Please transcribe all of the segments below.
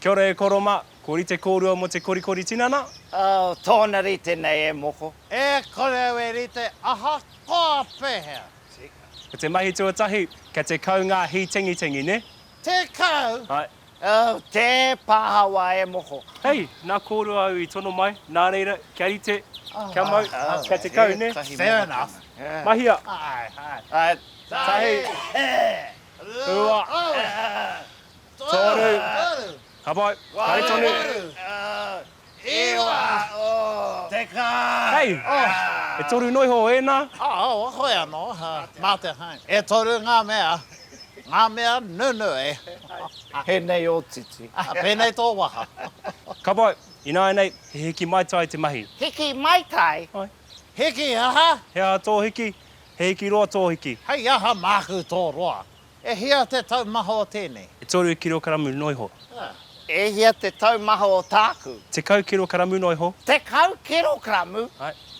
Kia ora e koro ma, ko rite korua mo te korikori tinana. Oh, tōna rite nei e moko. E kore au e rite, ahakoa pehea. Tika. Ko te mahi tuatahi, kia tekau ngā hītengitengi, ne? Tekau? Ae. Oh, tē pahawa e moko. Hei, nā kōrua au i tono mai, nā reira, kia rite, kia mau, kia te kau, nē? Fair enough. Mahia. Hai, hai. Tahi. Rua. Toru. Ka pai. Kare tonu. Ewa! Teka! Hei! E toru noa iho ēnā? Ao, hoi anō, mā te hang. E toru ngā mea, ngā mea nunu e. Pēnei ō titi. Pēnei tō waha. Ka pai, ināianei, he hiki maitai te mahi. Hiki maitai? Ai. Hiki aha? He aha tō hiki? He hiki roa tō hiki. Hei aha māku tō roa? E hia te taumaha o tēnei? E toru kirokaramu noa iho. E hia te taumaha o tāku? Tekau kirokaramu noa iho. Tekau kirokaramu?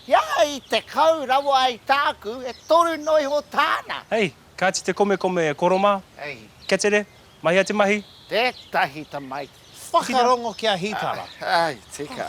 He aha i tekau rawa ai tāku, e toru noa iho tāna? Hei, kāti te komekome e koro mā. Hei. Ketere, mahia te mahi. Tētahi tamaiti. Whakarongo kia hītara. Hei, tika.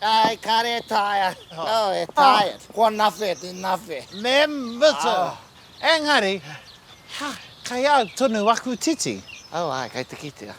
Ai, kare e taea. Oh, e taea. Ko anawhe, te nawhe. Me mutu. Engari, ha, kai au tonu aku titi. Oh, ai, kai te kitea.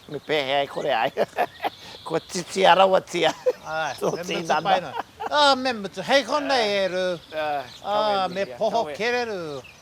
Me pehea e kore ai. Kua titia rawatia. Ai, me mutu paina. Oh, me mutu. Hei konei e ru. Oh, me poho kereru.